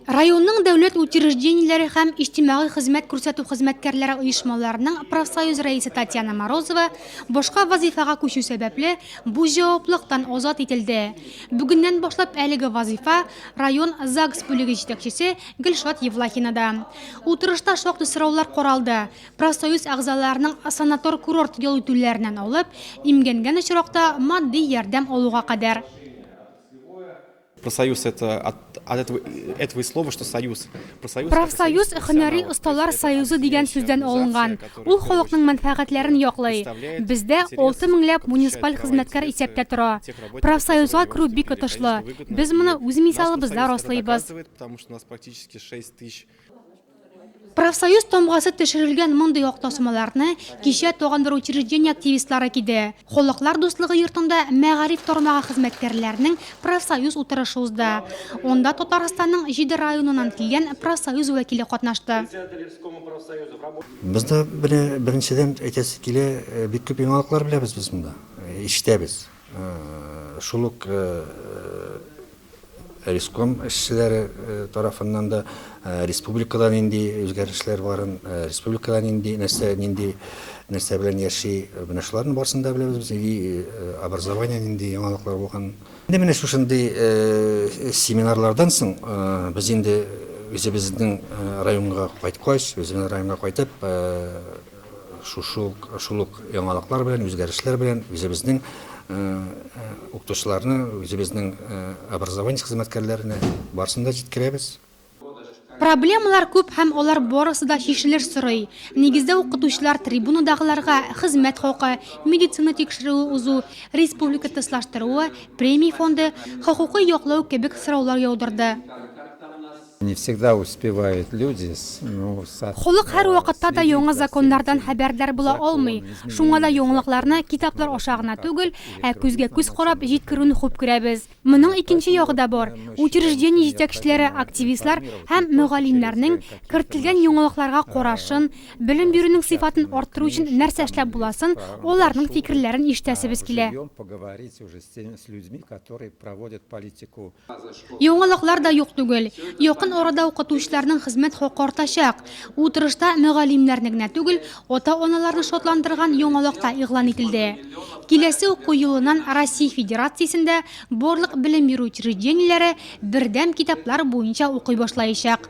Районның дәүләт учреждениеләре һәм иҗтимагый хезмәт күрсәтү хезмәткәрләре оешмаларының профсоюз рәисе Татьяна Морозова башка вазыйфага күчү сәбәпле бу җаваплыктан азат ителде. Бүгеннән башлап әлеге вазыйфа район ЗАГС бүлеге җитәкчесе Гөлшат Евлахинада. Утырышта шактый сораулар каралды, профсоюз әгъзаларының санатор-курорт ял итүләреннән алып, имгәнгән очракта матди ярдәм алуга кадәр. Профсоюз һөнәри осталар союзы дигән сүздән алынган. Ул халыкның мәнфәгатьләрен яклый. Бездә алты меңләп муниципаль хезмәткәр исәптә тора. Профсоюзга керү бик отышлы. Без моны үз мисалыбызда раслыйбыз. Профсоюз тамгасы төшерелгән мондый ак тасмаларны кичә тагын бер учреждение активистлары киде. Халыклар дуслыгы йортында мәгариф тармагы хезмәткәрләренең профсоюз утырышы узды. Анда Татарстанның җиде районыннан килгән профсоюз вәкиле катнашты. Бездә менә беренчедән әйтәсе килә, бик күп яңалыклар беләбез без монда, ишетәбез. Шул ук риском эшчеләре тарафыннан да республикада нинди үзгәрешләр барын, республикада нинди нәрсә, нинди нәрсә белән яши, менә шуларның барысын да беләбез без, и образование нинди яңалыклар булган. Инде менә шушындый семинарлардан соң без инде үзебезнең районга кайткач, үзебезнең районга кайтып, Шушы ук, шул ук яңалыклар белән, үзгәрешләр белән үзебезнең укытучыларны, үзебезнең образование хезмәткәрләренә барысын да җиткерәбез. Проблемалар күп һәм алар барысы да чишелеш сорый. Нигездә укытучылар трибунадагыларга хезмәт хакы, медицина тикшерүе узу, республика тыслаштыруы, премия фонды, хокукый яклау кебек сораулар яудырды. Не всегда успевают люди с ну со. Халык һәрвакытта да яңа законнардан хәбәрдар була алмый, шуңа да яңалыкларны китаплар аша гына түгел, ә күзгә күз карап җиткерүне хуп күрәбез. Моның икенче ягы да бар, учреждение җитәкчеләре, активистлар һәм мөгаллимнәрнең кертелгән яңалыкларга карашын, белем бирүнең сыйфатын арттыру өчен нәрсә эшләп буласын, аларның фикерләрен ишетәсебез килә. Ждем поговорить уже с теми с людьми которые проводят политику Яңалыклар да юк түгел. Якын арада укытучыларның хезмәт хакы артачак. Утырышта мөгаллимнәрне генә түгел, ата-аналарны шатландырган яңалык та игълан ителде. Киләсе уку елыннан Россия Федерациясендә барлык белем бирү учреждениеләре бердәм китаплар буенча укый башлаячак.